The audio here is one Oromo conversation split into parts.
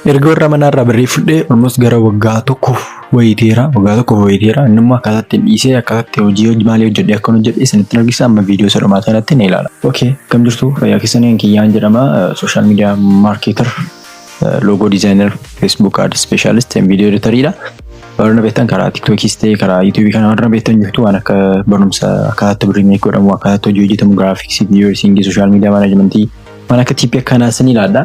Erga warra manaa irraa birrii fudhee almost gara waggaa tokkoof wayii teera. Waggaa tokkoof wayii teera. Inni immoo akkaataa ittiin dhiisee akkaataa itti hojii hojii maalii hojjedhee akkan hojjedhe isinittiin argisiisa amma viidiyoo isa dhumaa sanatti ni ilaala. Okay, akkam jirtu fayyaa keessaniin kiyyaan jedhama sooshaal miidiyaa maarkeetar loogoo diizaayinar feesbuuk ad ispeeshaalist viidiyoo editariidha. Warra na beektan karaa tiiktokiis ta'e karaa yuutuubii kana warra na beektan jirtu waan akka barumsa akkaataa itti birrii meeqa godhamu akkaataa itti hojii hojjetamu giraafiksii viidiyoo editingii sooshaal miidiyaa maanajimentii waan akka tiippii akkanaa isin ilaalla.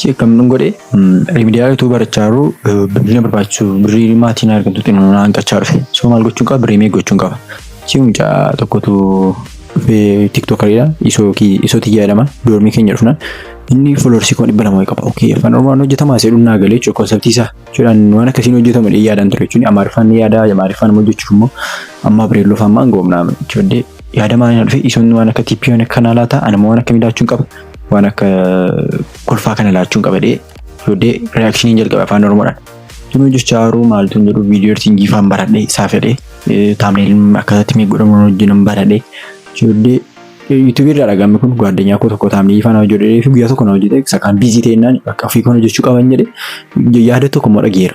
Si akkamdun godhe rimidiyaa utuu barachaa jiruu birrii na barbaachisu birrii maatiin argattu xinoo na hanqachaa dhufe soo maal gochuun qaba birrii mee gochuun qaba si mucaa tokkotu dhufee tiktokariidha isoo ki isoo tiyya jedhama doormii keenya dhufna inni foloorsii kuma dhibba lama qaba okay afaan oromoon hojjetamaa seedhuun naa galee jechuudha konseptii isaa jechuudhaan waan akkasiin hojjetamu dhee yaadaan ture jechuun amaariffaan ni yaadaa amaariffaan immoo hojjechuuf immoo ammaa bireelloo faan maan goomnaa jechuudha Yaada maaliin na dhufe isoon waan akka tippii waan akka kanaa laata anuma waan akkamii laachuun qaba waan akka kolfaa kana laachuun qaba dhee yoodee reaakshiniin jalqabe afaan oromoodhaan. Tunuu jechaa haruu maaltu hin jedhu viidiyoo ersiingii faan baradhe isaa fedhe taamneeliin akkasatti mee godhamu hojjenan baradhe yoodee yuutuubii irraa dhagaame kun gaaddanyaa koo tokko taamneelii faan hojjedhee fi guyyaa tokko na hojjete sakaan biizii ta'ennaan bakka ofii kana jechuu qaban jedhe yaada tokko immoo dhageera.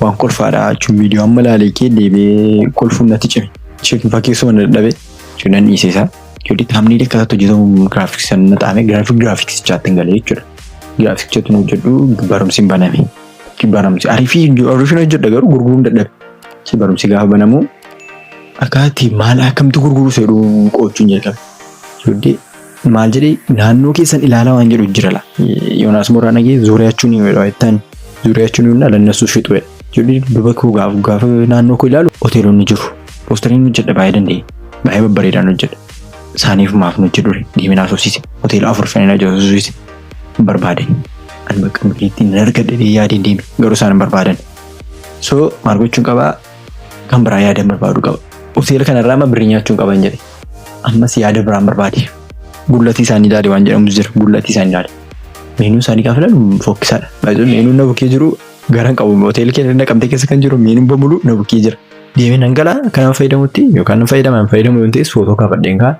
Waan kolfaadha jechuun viidiyoo amma ilaalee kee deebi'ee kolfuun natti cime. Cheekin fakkeessuma na dadhabe jechuun nan dhiise isaa. Jechuun taamniilee akka isaatti hojjetamu giraafiksii sana na xaame giraafik giraafiksichaatti hin galee jechuudha. Giraafiksichatti nu hojjedhu barumsi hin baname. Barumsi ariifii ofiishin hojjedha garuu gurguruun dadhabe. Si barumsi gaafa banamu akkaatti maal akkamti gurguruu seedhu qo'achuun jalqabe. Jechuun Maal jedhee naannoo keessan ilaalaa waan jedhu jira la. Yoonaas Mooraa dhagee zuuriyaachuu ni jedhu jettaan zuuriyaachuu ni jedhu alannasuu shitu jedha. Jedhu duba koo gaafa gaafa naannoo koo ilaalu hoteelonni jiru. Poostariin hojjedha baay'ee danda'e. Baay'ee babbareedaan hojjedha. Saaniif maaf nu hojjedhu deeminaa soofsiise. Hoteela afur shaniin hojjetu soofsiise. Barbaade. Ani bakka nuti ittiin hin argadhe yaadeen deeme garuu isaan hin barbaadan. So maal gochuun qabaa? Kan biraa yaada barbaadu qaba. Hoteela kanarraa amma birrii nyaachuu hin qaban jedhe. Ammas yaada biraan barbaade. Gullatii isaanii ilaale waan jedhamus jira. Gullatii isaanii ilaale. Meenuu isaanii gaafa ilaalu fokkisaadha. Baay'ee meenuun na bukkee jiru garan qabu. Hoteelli keenya naqamtee keessa kan jiru meenuun bamulu na bukkee jira. Deemee nan gala kanaan fayyadamutti yookaan nan fayyadama hin fayyadamu yoo ta'es footoo kaafadheen kaa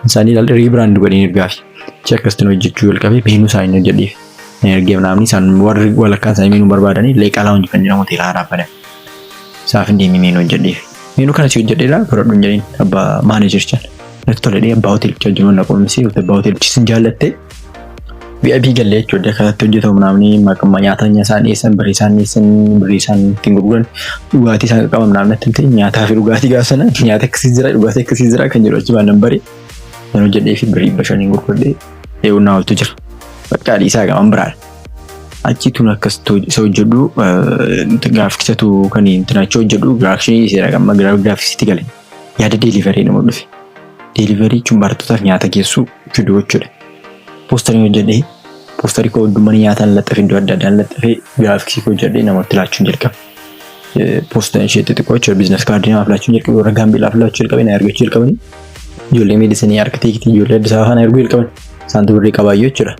isaanii ilaalle riibiraand godheen ergaafi. Achi akkasitti hojjechuu jalqabee meenuu isaanii hojjedheef. Ergee naamni isaan warri walakkaan isaanii meenuu barbaadanii leeqaa laawunji kan jedhamu hoteela haaraa baname. Isaaf hin deemii meenuu hojjedheef. Meenuu kana si hojjedhee laa baradhu hin jedhin abbaa maaneejerichaan. Natti toledhee abbaa hoteelichaa jiruun na qoomsee yookiin abbaa hoteelichis hin jaallattee VIP gallee jechuudha kanatti hojjetamu mnaamni maqamma nyaataa isaan dhiyeessan birrii isaan dhiyeessan birrii isaan ittiin gurguran dhugaatii isaan qaqqaba mnaamni natti himte nyaataa fi dhugaatii gaafa sana nyaata akkasii jira dhugaatii akkasii jira kan jedhu achi baan nan bare nan hojjedhee fi birrii dhibba shaniin gurguradhee eewwannaa ooltu jira. Bakka dhiisaa gaman biraadha. Achi tun akkas isa hojjedhu gaafiksatu kan intinaachoo hojjedhu gaafikshinii dhiiseera amma gaafiksitti gale yaada deeliverii nama dhufe. Deeliverii jechuun barattootaaf nyaata geessuu fidu jechuudha. Poostarii hojjedhee poostarii koo iddoo mana nyaataan laxxafe iddoo adda addaan laxxafe gaafiksii koo hojjedhee namatti laachuun jalqabe. poostaa ishee xixiqqoo jechuudha biizines kaardii namaaf laachuun jalqabe warra gaambeelaaf laachuu jalqabe na ergachuu jalqabanii ijoollee miidhisanii arkitektii ijoollee Addis Ababaa na erguu jalqaban isaantu birrii qabaayyuu jechuudha.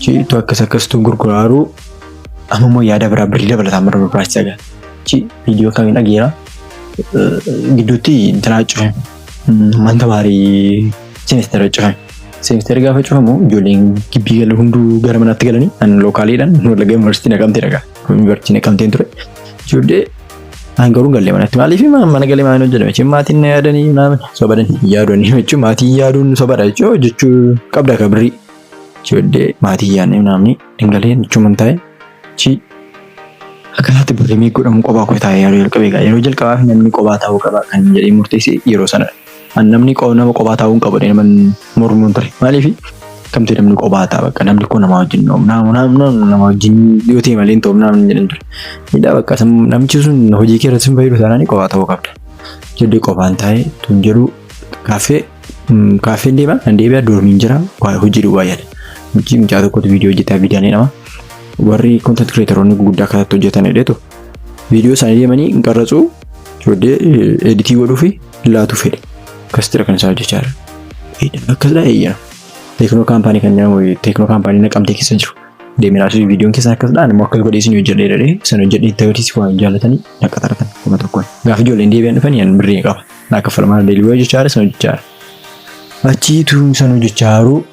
Ciitu akkas akkasitu gurguraaru amma immoo yaada biraa birrii dabalataa mara barbaachisaa gaha. Ci viidiyoo kamiin dhageera gidduutti intalaa cufe manta baarii seemistara cufe. Seemistara gaafa cufamu ijoolleen gibbii galu hunduu gara manaatti galanii an lookaaliidhaan wallagga yuunivarsiitii naqamtee dhagaa. Yuunivarsiitii naqamteen ture. Ijoollee An garuu galle manatti maaliif mana galee maaliin hojjetame jechuun maatiin na yaadanii maami sobadan yaadonni jechuun maatiin yaaduun sobadha jechuun jechuu qabda ka birrii ijoollee maatiin yaadni naamni hin galeen jechuun man taa'e chi akkanaatti birrii meeqa godhamu qophaa koo taa'e yeroo jalqabee yeroo jalqabaaf namni qophaa taa'uu qaba kan jedhee murteesse yeroo sanadha. An namni qo- nama qophaa taa'uu hin qabu jedhee naman mormuun ture. Maaliif kamtee namni qophaa ta'a bakka namni koo namaa wajjin nama nama nama nama wajjin yoo ta'e malee hin ta'u namni jedhan ture. Hidhaa bakka san namichi sun hojii kee irratti hin fayyadu taanaan qophaa ta'uu qabda. Jedhee qophaan taa'ee tun jedhu kaaffee mm, kaaffeen deema nan deebi'a doormiin jira waa hojii duwwaa yaada. Hojii mucaa tokkotu viidiyoo hojjetaa viidiyaan jedhama. Warri content creatoronni guguddaa kanatti hojjetan jedheetu viidiyoo isaanii deemanii hin qarratsuu Ijoollee editii godhuu fi laatu fedhe. Akkasitira kan isaa hojjechaa jiran. Eedhan akkasidha eeyyana. Teeknoo kaampaanii kan jedhamu teeknoo kaampaanii naqamtee keessa jiru. Deemee laasuuf viidiyoon keessan akkasidha ani immoo akkas godhee isin hojjedhee jedhee san hojjedhee itti agarsiisuu waan jaallatanii naqa taratan kuma tokkoon. Gaafa ijoolleen deebi'an dhufan yan birrii qaba. Naa kaffalamaa deelibi'oo hojjechaa jira san hojjechaa jira. Achii tuun san hojjechaa haruu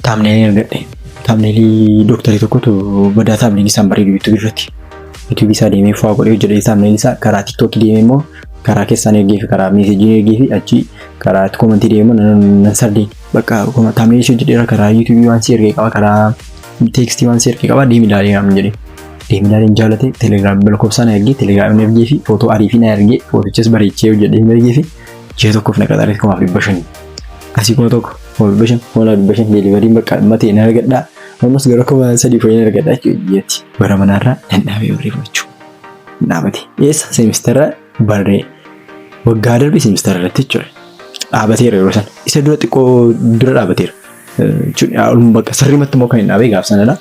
taamneelii argadhe. Taamneelii dooktarii tokkotu badaa taamneelii isaan bareedu yuutuubii irratti. Yuutuubii isaa deemee faa godhee hojjedhee taamneelii isaa karaa tiktookii deemee immoo karaa keessaan ergee fi karaa meesejii ergee fi achii karaa itti koomantii deemee immoo nan- nan sardee. Bakka akkuma taamneelii ishee hojjedheera karaa yuutuubii waan si ergee qaba karaa teekstii waan si ergee qaba deemi ilaalee naan jedhe. Deemi ilaalee hin jaalate telegiraam lakkoofsaa na ergee telegiraam hin ergee fi footoo arii fi na ergee footichas bareechee hojjedhee hin ergee fi Ji'a tokkoof na qaxaree kumaaf dhibba shanii. Asii kuma tokko kuma dhibba shan kuma lama dhibba shan deelivariin bakka amma ta'e na argadhaa. Ammas gara kuma sadii fayyaa na argadhaa jechuudha ji'atti. Bara manaarraa nan dhaabee warree fudhachuu. Nan dhaabate. Eessa seemistara barree waggaa darbe seemistara irratti jechuudha. Dhaabateera yeroo sana. Isa dura xiqqoo dura dhaabateera. jechuun olum bakka sirrimatti immoo kan hin dhaabee gaaf sanadha.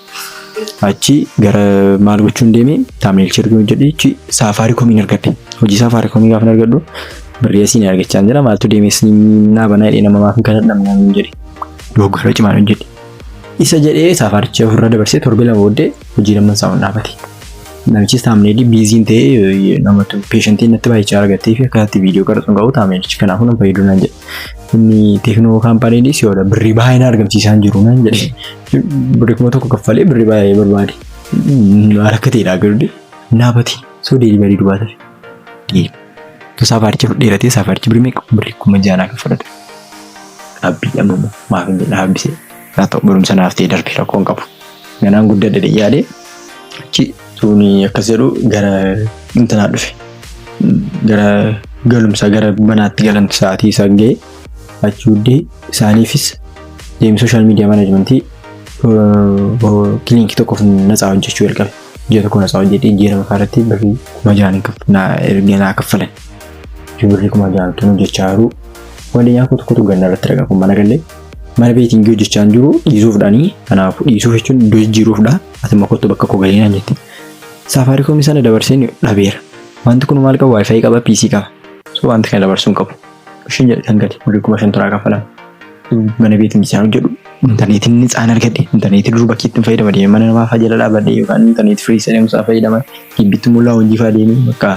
Achi gara maal gochuun deeme taameel shirguu jedhee achi saafaarii komiin argadhe. Hojii saafaarii komii gaafa argadhu birrii asiin argachaa jira maaltu deeme siin naa banaa jedhee nama maaf hin kadhadhu namni naan jedhe. Dogoggora cimaan hojjedhe. Isa jedhee saafaaricha ofirra dabarsee torbee lama booddee hojii lamman isaa ol dhaabate. Namichis taamneelii biiziin ta'ee namatu peeshantiin natti baay'ichaa argattee fi akkasitti viidiyoo qaraxuun qabu taamneelichi kanaafuu nan fayyaduu naan jedhe. Inni teeknoo kaampaaniin si'oodha birrii baay'ee na argamsiisaa hin jiru naan jedhe. Birrii kuma tokko kaffalee birrii baay'ee barbaade. Harka ta'eedha garuu naabati soo deelivarii duwwaa tafe. Deelivarii. Saafaaricha fudheeratee saafaarichi birrii meeqa birrii kuma ja'a naa kaffalate. Dhaabbii dhamama maaf hin jedhe dhaabbisee. Haa ta'u barumsa naaf ta'e darbe rakkoon qabu. Ganaan guddadhe dhiyyaadhe achi tuuni akkas jedhu gara intanaa dhufe. Gara galumsa gara manaatti galan sa'aatii isaa ga'e achi huddee isaaniifis deemee sooshaal miidiyaa manaajmentii kiliinikii tokkoof natsaa hojjechuu jalqabe. Ji'a tokko natsaa hojjetee ji'a lama irratti birrii kuma jahan erga naa kaffalan. Birrii kuma jahan tun hojjechaa jiru. Waliin yaa kutu kutu ganna irratti dhagaa kun mana galee. Mana beetingii hojjechaa hin jiru dhiisuufdhaani. Kanaafuu dhiisuuf jechuun iddoo jijjiiruufdha. Ati makottu bakka koo galii naan jette. Saafaariikoomii sana dabarseen dhabeera. Wanti kun maal qaba? Waayifaayi qaba, PC qaba. So wanti kana dabarsuu hin qabu. Ishiin jedhe kan gadi birrii kuma shan turaa kaffalama. Mana beetingii sana hojjedhu intarneetiin ni tsaan argadhe. Intarneetii dur bakki ittiin fayyadama deemee mana namaa faa jala dhaabadhe yookaan intarneetii firii isa deemsaa fayyadama. Gibbitti mul'aa hojii faa deemee bakka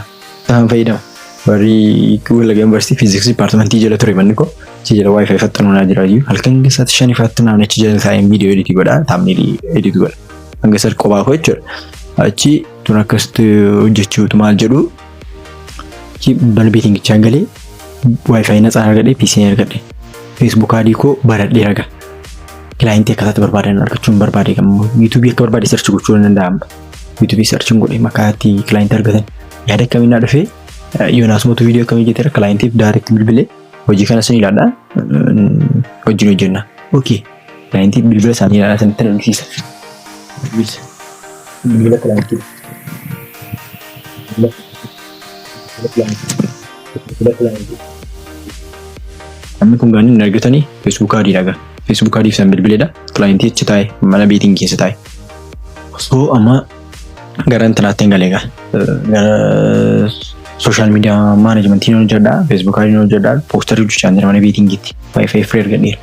Isaan fayyadamu. Warri Wallagga Yuunivarsiitii Fiiziksii Dipaartimentii jala ture manni koo achi jala waayifaayi faxxanuu naa jira iyyuu halkan keessaatti shan ifaatti naamni achi jala taa'een viidiyoo editii godha taamneelii editii godha hanga sar qophaa koo jechuudha. Achi tun akkasitti hojjechuutu maal jedhu achi balbii tingichaan galee waayifaayi naxaan argadhe piisiin argadhe feesbuuk adii koo baradhee raga kilaayintii akkataatti barbaadan argachuun barbaade kan yuutuubii akka barbaade sarchi gochuu ni danda'ama. YouTube searchin godhee maqaa itti client argatan yaada akkamiin naa dhufee Yoonaas mootu viidiyoo akkamii jeteera clientiif direct bilbilee hojii kana sin ilaadha wajjin hojjenna. Okay. Clientiif bilbila isaanii ilaadha sanitti na dhufsiisa. Bilbila clientiif. Bilbila clientiif. Bilbila clientiif. Namni kun gaanii hin argatanii Facebook adii dhagaa. Facebook adiif san bilbileedha. Clientii achi taa'e mana beetiin keessa taa'e. So amma gara intanaatti hin galee gaa. Gara sooshaal miidiyaa maanajimentii ni hojjedha. Feesbuukaa ni hojjedha. Poostarii hojjechaa jira mana beetingiitti. Waayifaayi firii argadheera.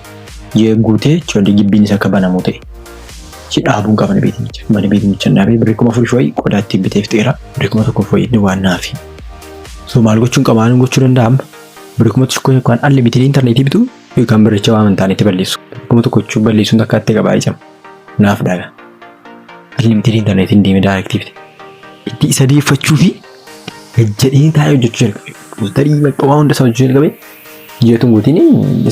Yoo guutee choolee gibbiin isa akka banamu ta'e. Ichi dhaabuun qaba mana beetingicha. Mana beetingicha hin dhaabee birrii kuma afurii fi wayii qodaa ittiin bitee fixeera. Birrii kuma tokkoof wayii inni waan naafi. So maal gochuun qaba maal gochuu danda'a amma? Birrii kuma tokko yookaan alli bitanii intarneetii bituu yookaan biricha waan hin taanetti balleessu. Birrii kuma tokko jechuun balleessuun takkaatti qabaa ijama. naaf dhaga unlimited internet hin deeme direct bite itti isa deeffachuu fi jedhee taa'ee hojjechuu jalqabe buustarii bakka waa hunda isaa hojjechuu jalqabe jeetu guutiin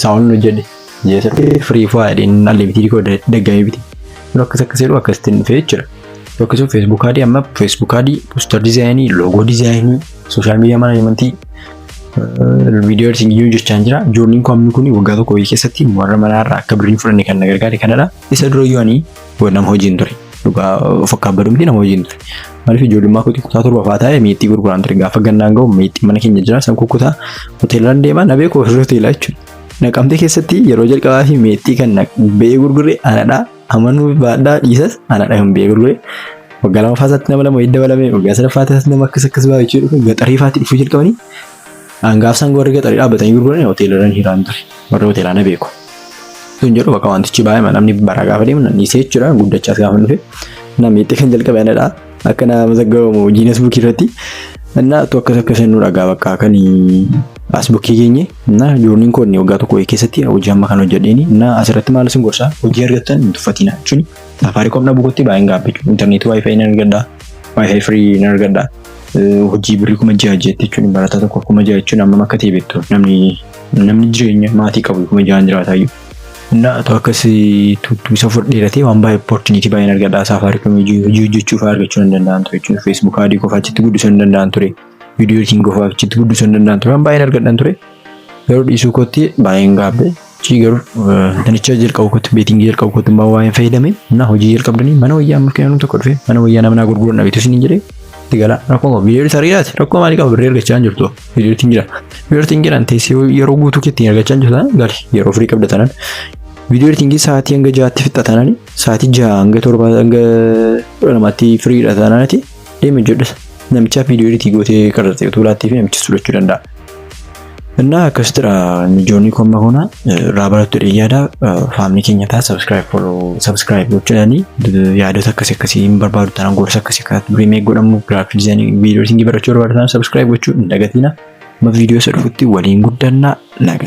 isaa ol hojjedhe jeesatti firii faa jedheen unlimited koo daggamee bite yeroo akkas akkas jedhu akkasitti hin dhufee jechuudha yeroo akkasuma feesbuuk adii amma feesbuuk adii buustar dizaayinii loogoo dizaayinii sooshaal miidiyaa manaajimantii video editing yoo jechaan jira journiin koo amni kun waggaa tokko wayii keessatti warra manaa irraa akka birrii fudhanne kan na gargaare kanadha isa dura yoo ani nama hojiin ture dhugaa of akka abbaduu miti nama hojiin ture maaliif ijoollummaa kootii kutaa torba fa'aa taa'ee meexxii gurguraan ture gaafa gannaan ga'u meexxii mana keenya jira san kukutaa hoteelaan deemaa na beeku hoteelaa jechuudha naqamtee keessatti yeroo jalqabaa fi meexxii kan ba'ee gurgure anadhaa Amanuu baadhaa dhiisas anadha kan beeku dhufe. Waggaa lamaffaa isaatti nama lama wayii dabalame waggaa sadaffaa isaatti nama akkas akkas baay'ee jechuu dhufe gaxarii faatti dhufuu jalqabanii hangaafsaan warri gaxarii dhaabbatanii gurguran hoteelarran hiraan ture warri hoteelaa na beeku. Sun jedhu bakka wantichi baay'ee namni bara gaafa deemu nan dhiisee jechuudha guddachaas gaafa dhufe namni itti kan jalqabe anadha. akka naa mazaggabamu jiinas buukii irratti እና tu akkas akkas nu dhagaa bakka kan as bukkii geenye እና joorniin koo inni waggaa tokko keessatti hojii amma kan hojjedheeni እና asirratti maal isin gorsaa hojii argattan hin tuffatina jechuun saafaariikoom dhabuu kootti baay'een gaabbe intarneetii waayifaayi nan argadha waayifaayi firii nan argadha hojii birrii kuma ja'a jeetti jechuun barataa tokko kuma ja'a jechuun amma akka ta'e beektu namni namni jireenya maatii qabu kuma ja'aan jiraataayyuu Innaa atu akkas tuttu isa fudhee ratee waan baay'ee opportunity baay'een argadhaa saafaariikoom hojii hojjechuu fa'aa argachuu hin danda'an ture jechuudha. Facebook adii qofaa achitti guddisuu hin danda'an ture. Video editing qofaa achitti guddisuu hin danda'an ture. Waan baay'een argadhan ture. Garuu dhiisuu kootti baay'een gaabbe. Chii garuu nanicha jalqabu kootti beetingii jalqabu kootti immoo waa'een fayyadame na hojii jalqabdanii mana wayyaa mul'inaan tokko dhufe mana wayyaa nama naa gurguran dhabeetu isin hin jedhee itti galaa rakkoo viidiyoo tarii laati rakkoo maalii qaba birrii argachaa hin jirtu. vidiyotiin jira viidiyoo editing jedhan teessee yeroo guutuu keetti argachaa jirta gali yeroo firii qabda tanan viidiyoo editingii sa'aatii hanga ja'aatti fixxa tanan sa'aatii ja'a hanga torba hanga kudha lamaatti firiidha tananati deemi jedhas namicha viidiyoo editii gootee qarxaxee utuu laattii fi namichi sudhachuu danda'a. Innaa akkasitidha mijoonni komma koona irraa barattu dheeyyaadha faamni keenya ta'a subscribe follow subscribe gochuudhaani yaadota akkasi akkasii hin barbaadu taanaan gorsa akkasi akka remake godhamu graphic design video editing barachuu barbaadu taanaan subscribe gochuu hin dagatiina. Amma video isa dhufutti waliin guddannaa naga.